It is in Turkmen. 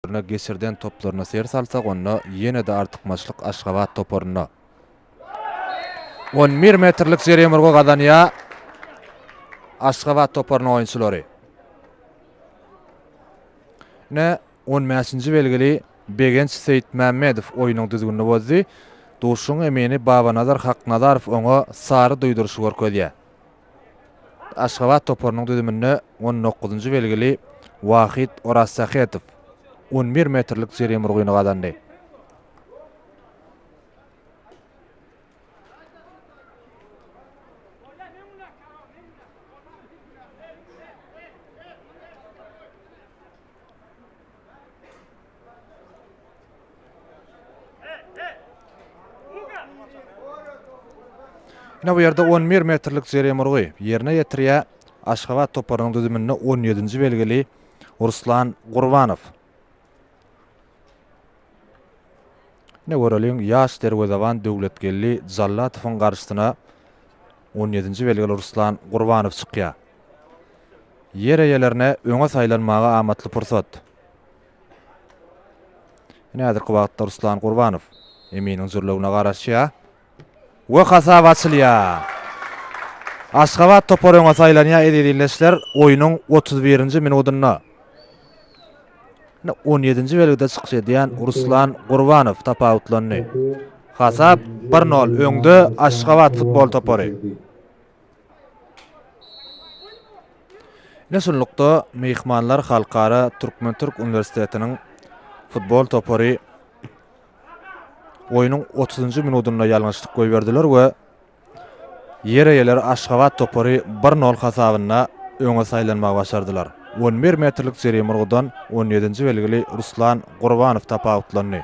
Durna geçirden toplaryna ser salsak onda ýene-de artykmaçlyk Aşgabat toparynda. On bir metrlik jerýem urgy gazanýar Aşgabat toparynyň oýunçylary. Ine on bäşinji belgili Begenç Seýitmämmedow oýnuň düzgünini bozdy. Duşuň emini Babanazar Haknazarow oňa sary duýduryşy görkezýär. Aşgabat toparynyň düzüminde on dokuzynjy belgili Wahyt Orazsähetow on bir metrlik jeriýe murgyny gazandy. Ine bu ýerde on bir metrlik jeremurgy ýerine ýetirýär Aşgabat toparynyň düzüminde on ýedinji belgili Ruslan Gurbanow. Ine göreliň ýaş derwezeban Döwletgeldi Jallatowyň garşysyna on ýedinji belgili Ruslan Gurbanow çykýar. Ýer eýelerine öňe saýlanmaga amatly pursat. Ine häzirki wagtda Ruslan Gurbanow Eminiň jürlewine garaşýar we hasap açylýar. Aşgabat topary öňe saýlanýar eziz ildeşler oýnuň otuz birinji minudynda. Ine on ýedinji belgide çykyş edýän Ruslan Gurbanow tapawutlandy. Hasap bir nol öňde Aşgabat futbol topary. Ine şunlukda, myhmanlar Halkara türkmen-türk uniwersitetiniň futbol topary oýnuň otuzynjy minudynda ýalňyşlyk goýberdiler we ýer eýeleri Aşgabat topary bir nol hasabynda öňe saýlanmagy başardylar. On bir metrlik jerime urgudan on ýedinji belgili Ruslan Gurbanow tapawutlandy.